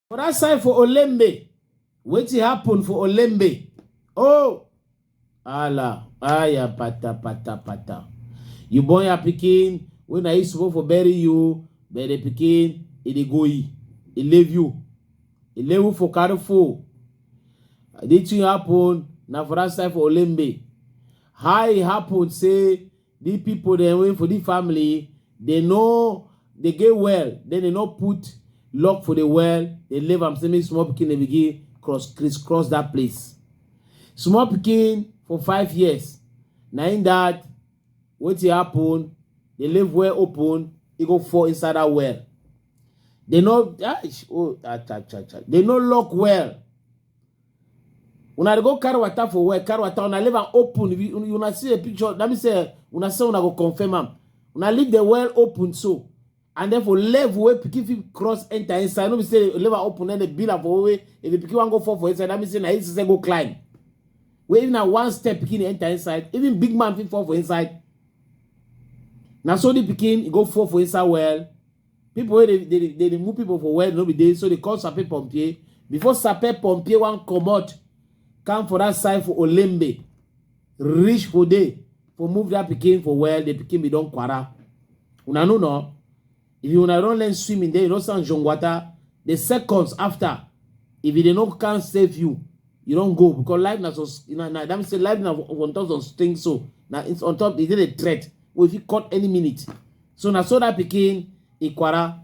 For that side for Olembe, wetin happen for Olembe? Oh, Allah, aya pata pata pata. You born your pikin, when I used to for bury you, but the pikin, e dey go e, e leave you, e leave you for careful. This thing happen na for that side for Olembe. How e happen say di pipo dem wey for di family dem no dey get well den dem no put lock for di well dem leave am say make small pikin dem begin cross criss cross dat place small pikin for five years na im dat wetin happen dem leave well open e go fall inside dat well dem no eish oh ah cha cha cha dem no lock well Una go carry water for where? Carry water, una leave am open. If you, una see a picture, let me say, una say una go confirm am. Una leave the well open so. And then for level where pikin fit cross enter inside. No be say leave am open then the bill am for way. If the pikin wan go fall for inside, that mean say na him say go climb. Where even na one step pikin enter inside, even big man fit fall for inside. Na so the pikin go fall for inside well. people wey dey dey dey remove people for well no be dey so they call sape pompier before sape pompier wan comot come for that side for olembe reach for there for move that pikin for well the pikin be don kwara una no know if you una don learn swimming then you don stand john water the seconds after if you dey no can save you you don go because life na so na na that mean say life na on top some things so na it's on top e dey the threat wey fit cut any minute so na so that pikin ikwara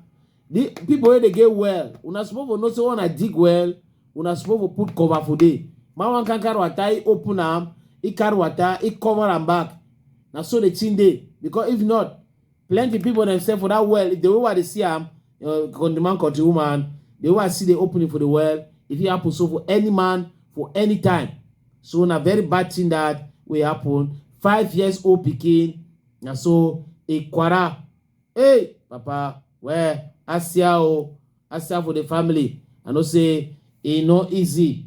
the people wey dey get well una suppose for know say una dig well una suppose for put cover for there man wan can carry water he open am he carry water he cover am back na so the thing dey because if not plenty people themselves for that well the way i dey see am uh, the man country woman the way i see the opening for the well e fit happen so for any man for any time so na very bad thing that wey happen five years old pikin na so e kwara hey papa well asia o asia for the family i know say e no easy